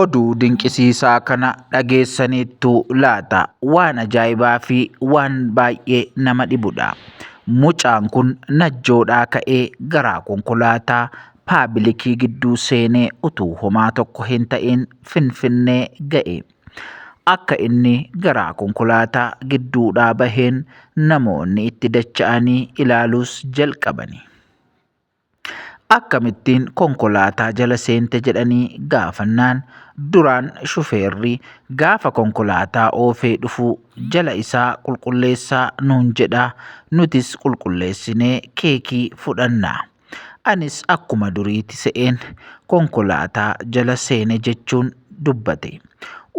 Oduu dinqisiisaa kana dhageessaniittu laata? Waan ajaa'ibaa fi waan baay'ee nama dhibudha. Mucaan kun najjoodhaa ka'ee garaa konkolaataa paabilikii gidduu seenee utuu homaa tokko hin ta'in finfinnee ga'e. Akka inni garaa konkolaataa gidduudhaa baheen namoonni itti dacha'anii ilaaluus jalqabani. Akkamittiin konkolaataa jala seente jedhanii gaafannaan duraan shufeerri gaafa konkolaataa oofee dhufu jala isaa qulqulleessaa nuun jedha nutis qulqulleessinee keekii fudhanna. Anis akkuma duriiti se'een konkolaataa jala seene jechuun dubbate.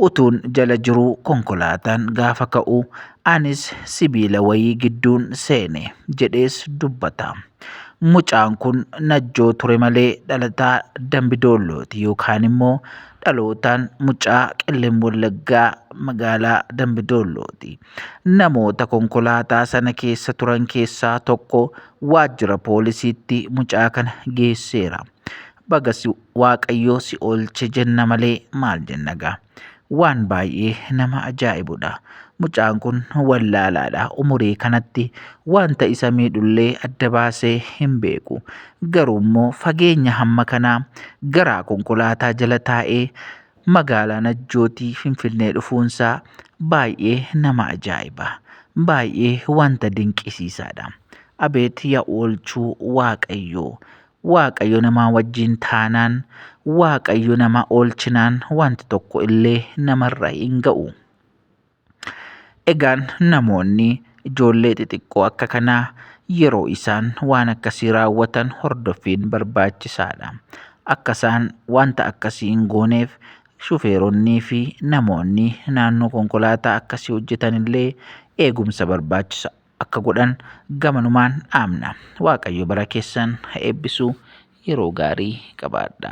Utuun jala jiruu konkolaataan gaafa ka'u anis sibiila wayii gidduun seene jedhees dubbata. Mucaan kun najjoo ture malee dhalataa dambi doollooti yookaan immoo dhalootaan mucaa qellem wallaggaa magaalaa dambi doollooti. Namoota konkolaataa sana keessa turan keessaa tokko waajjira poolisiitti mucaa kana geesseera. baga si waaqayyoo si oolche jenna malee maal jenna gaa waan baay'ee nama ajaa'ibudha mucaan kun wallaalaadha umurii kanatti wanta isa miidhullee adda baasee hin beeku garuu immoo fageenya hamma kanaa garaa konkolaataa jala taa'ee magaalaa najjootii finfinnee dhufuunsaa baay'ee nama ajaa'iba baay'ee wanta dinqisiisaadha abeet yaa oolchuu waaqayyoo Waaqayyo namaa wajjin taanaan, Waaqayyo nama oolchinaan wanti tokko illee namarra hin ga'u. Egaan namoonni ijoollee xixiqqoo akka kanaa yeroo isaan waan akkasii raawwatan hordoffiin barbaachisaadha. Akka isaan wanta akkasii hin gooneef shufeeronnii fi namoonni naannoo konkolaataa akkasii hojjetan illee eegumsa barbaachisa. akka godhan gamanumaan dhaamna. Waaqayyo bara keessan ha eebbisu yeroo gaarii qabaadha.